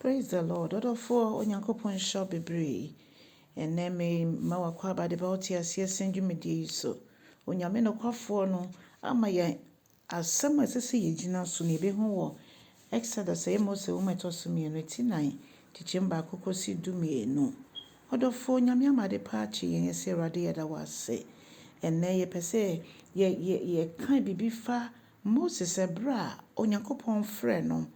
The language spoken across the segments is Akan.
Praise the Lord ɔdɔfoɔ Onyankopɔn nhyira wo bebree ɛnɛ me ma w'akwaaba de ba wo te aseɛ sɛn dwumadie yi so Onyame nokwafoɔ no ama yɛn asɛm a ɛsɛ sɛ yɛ gyina so na yɛ bɛ hu wɔ Exodus ɛyɛ Mose nwoma ɛtɔ so mmienu ti nan kyekyɛm baako kɔsi du mmienu ɔdɔfoɔ Onyame ama ade pa akye yɛn yɛsɛ Awurade yɛda wo ase ɛnɛ yɛ pɛ sɛ yɛ yɛ yɛ kan biribi fa Moses ɛberɛ a Onyankopɔn frɛɛ no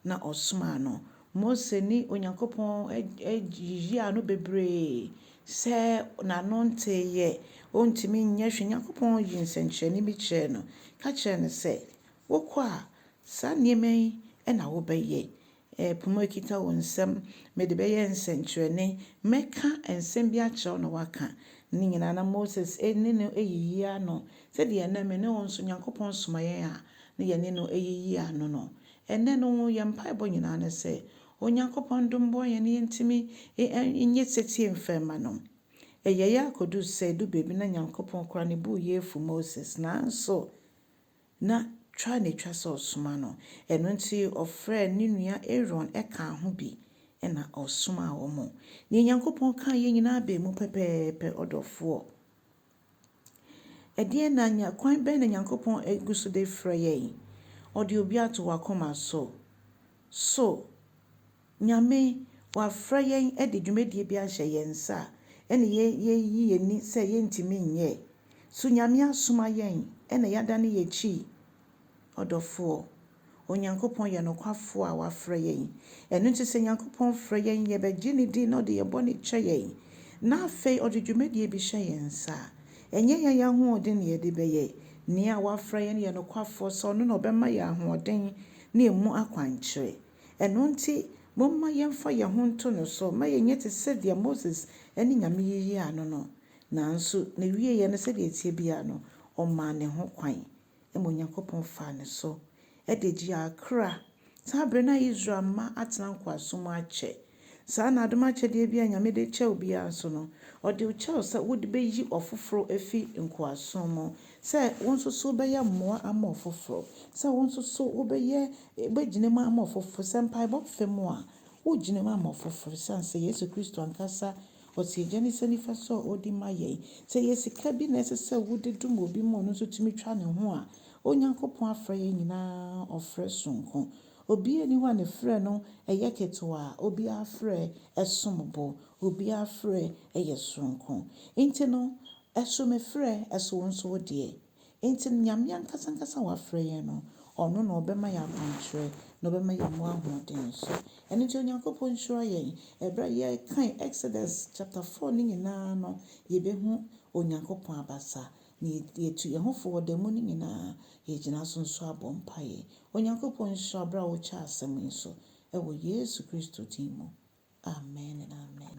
na ɔsomaa no. Mose ne Onyankopɔn yiaa no bebree sɛ n'ano nteeɛ, ɔntumi nyɛ hwee. Nyankopɔn yii nsɛnkyerɛnne bi kyerɛɛ no ka kyerɛɛ no sɛ, wokɔ a, saa nneɛma yi na wobɛyɛ. Ɛpo mu akita wo nsam. Mede bɛyɛ nsɛnkyerɛnne. Mɛka nsɛm bi akyerɛ wo na woaka. Ne nyinaa na Moses ne no yiyi ano sɛdeɛ ɛnnɛ me ne wo nso Nyankopɔn soma yɛn a na yɛne no yiyi ano no. Ɛnnɛ no yɛn mpaebɔ nyinaa ne sɛ Onyankopɔn dom boa yɛn na yɛntumi nyɛ setie mfa mma no. Ɛyɛeɛ akɔduru sɛ ɛduru baabi na Nyankopɔn koraa ne bo reyɛ afu Moses nanso, Ná twa na etwa sɛ ɔsoma no, ɛno nti ɔfrɛɛ ne nua Aaron kaa ho bi na ɔsomaa wɔn. Nea Onyankopɔn kae yi nyinaa baa mu pɛpɛɛpɛ, ɔdɔfoɔ. Ɛdeɛn na nya, kwan bɛn na Onyankopɔn gu so de frɛ yɛn? Ɔde obi ato w'akoma so. So. Nyame, Wafrɛ yɛn de dwumadie bi ahyɛ yɛn nsa a, ɛne yɛn yɛyi yɛn ani sɛ yɛntumi nyɛ? So Nyame asoma yɛn na yɛadane yɛn akyi? Ɔdɔfoɔ, Onyankopɔn yɛ nokwafoɔ a Wafrɛ yɛn. Ɛno nti sɛ Nyankopɔn frɛ yɛn, yɛbɛgye Ne din na Ɔde yɛn bɔne kyɛ yɛn. Na afei Ɔde dwumadie bi hyɛ yɛn nsa a, ɛnyɛ yɛn ahoɔden na yɛde bɛyɛ. Nea Wafrɛ yɛn yɛ nokwafoɔ sɛ Ɔno na Ɔbɛma yɛn ahoɔden ne ɛmu akwankyerɛ. Ɛno nti, momma yɛmfa yɛn ho nto no so mma yɛnyɛ te sɛdeɛ Moses ne Nyame yiaa no no. Nanso n'awieeɛ no, sɛdeɛ ɛteɛ biara no, ɔmaa ne ho kwan, ma Onyankopɔn faa ne so de gyee akra, saa berɛ no a Israel mma atena nkoasom akyɛ Saa na adom akyɛdeɛ biara a Nyame de kyɛ wo biara nso no, Ɔde wo kyɛ wo sɛ wode bɛyi ɔfoforɔ afi nkoasom mu, sɛ wo nso so wobɛyɛ mmoa ama ɔfoforɔ, sɛ wo nso so wobɛyɛ, wobɛgyina mu ama ɔfoforɔ. Sɛ mpaebɔ fam a, wogyina mu ama ɔfoforɔ ɛsiane sɛ Yesu Kristo ankasa ɔte Agya no nsa nifa so a ɔdi ma yɛn. Sɛ ɛyɛ sika bi na ɛsɛ sɛ wode dom obi ma ɔno nso tumi twa ne ho a, Onyankopɔn afrɛ yɛn nyinaa ɔfrɛ sononko. Obiaa nni hɔ a ne frɛ no yɛ ketewaa, obiaa frɛ som bo, obiaa frɛ yɛ sononko. Nti no, so me frɛ, so wo nso wo deɛ? Nti no, Nyame ankasa ankasa a wafrɛ yɛn no, Ɔno na Ɔbɛma yɛn akwankyerɛ, na Ɔbɛma yɛn mu ahoɔden nso. Ɛno nti Onyankopɔn nhyira yɛn. Ɛberɛ a yɛkan Exodus chapter four no nyinaa no, yɛbɛhu Onyankopɔn abasa. Na yɛtu yɛn ho fo wɔ da mu no nyinaa, yɛgyina so nso abɔ mpaeɛ. Onyankopɔn nhyira wo berɛ a wokyɛ asɛm yi nso, wɔ Yesu Kristo din mu, amen and amen.